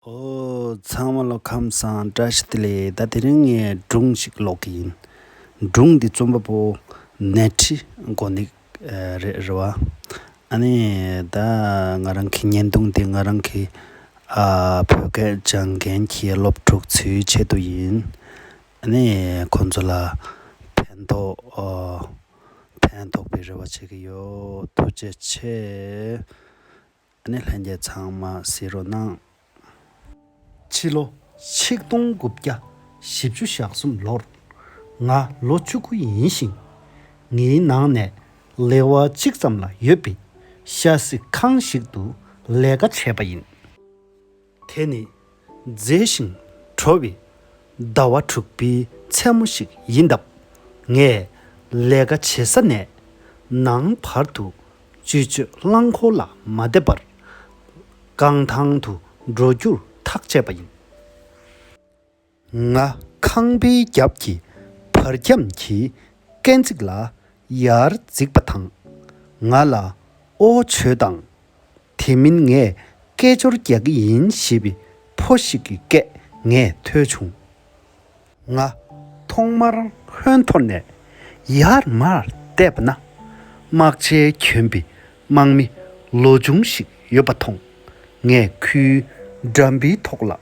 ཨོ། ཚང་མ་ལོ་ཁམས་སངས་བཀྲ་ཤིས་བདེ་ལེགས་ད་དེ་རིང་ངས་སྒྲུང་ཞིག་ཀློག་གི་ཡིན། སྒྲུང་འདི་རྩོམ་པ་པོ་ནད་ཁྲི་མགོ་འདེགས་རེད་རེད་བ། ཨ་ནི་ད་ང་རང་གི་བརྙན་ཐུང་འདི་ང་རང་གི་བོད་སྐད་སྦྱང་མཁན་གྱི་སློབ་ཕྲུག་ཚོའི་ཆེད་དུ་ཡིན། ཨ་ནི་ཁོང་ཚོ་ལ་ཕན་ཐོགས་ཕན་ཐོགས་པའི་རེ་བ་བྱེད་ཀྱི་ཡོད་ཐུགས་རྗེ་ཆེ། ཨ་ནེ་ལྷན་རྒྱས་ཚང་མ་བསེ་རུ་གནང། ཕྱི་ལོ་ཆིག་སྟོང་དགུ་བརྒྱ་བཞི་བཅུ་ཞག་གསུམ་ལོར། ང་ལོ་བཅུ་དགུ་ཡིན་ཞིང། ངའི་ནང་ནས་ལེ་དབར་གཅིག་ཙམ་ལ་ཡོད་པའི་ཤ་སི་ཁང་ཞིག་ཏུ་ལས་ཀ་བྱས་པ་ཡིན། དེ་ནི་མཛེས་ཤིང་དྲོ་བའི་ཟླ་བ་དྲུག་པའི་མཚན་མོ་ཞིག་ཡིན་སྟབས། ངས་ལས་ཀ་བྱེད་ས་ནས་ནངས་བར་དུ་སྤྱི་སྤྱོད་རླངས་འཁོར་ལ་མ་བསྡད་པར། རྐང་ཐང་དུ་འགྲོ་རྒྱུར་ཐག་བཅད་པ་ཡིན། ང་ཁང་པའི་རྒྱབ་ཀྱི་བར་ཁྱམས་ཀྱི་སྐས་འཛེགས་ལ་ཡར་འཛེགས་པ་དང། ང་ལ་ཨོ་བྱོས་དང། དེ་མིན་ངས་སྐད་ཅོར་རྒྱག་གི་ཡིན་ཞེས་པའི་ཕོ་ཞིག་གི་སྐད་ངས་ཐོས་བྱུང། ང་ཐོག་མར་ཧོན་ཐོར་ནས་ཡར་མར་བལྟས་པ་ན། དམག་ཆས་གྱོན་པའི་དམག་མི་ལོ་ཆུང་ཞིག་ཡོད་པ་མཐོང། ངས་ཁོའི་འགྲམ་པའི་ཐོག་ལ་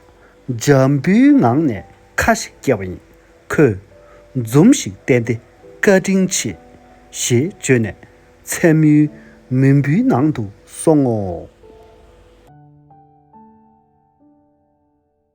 འཇམ་པོའི་ངང་ནས་ཁ་ཞིག་བཀྱེ་བ་ཡིན། ཁོས། འཛུམ་ཞིག་བསྟན་ཏེ་བཀའ་དྲིན་ཆེ། ཞེས་བརྗོད་ནས་མཚན་མོའི་མུན་བུའི་ནང་དུ་སོང་ངོ།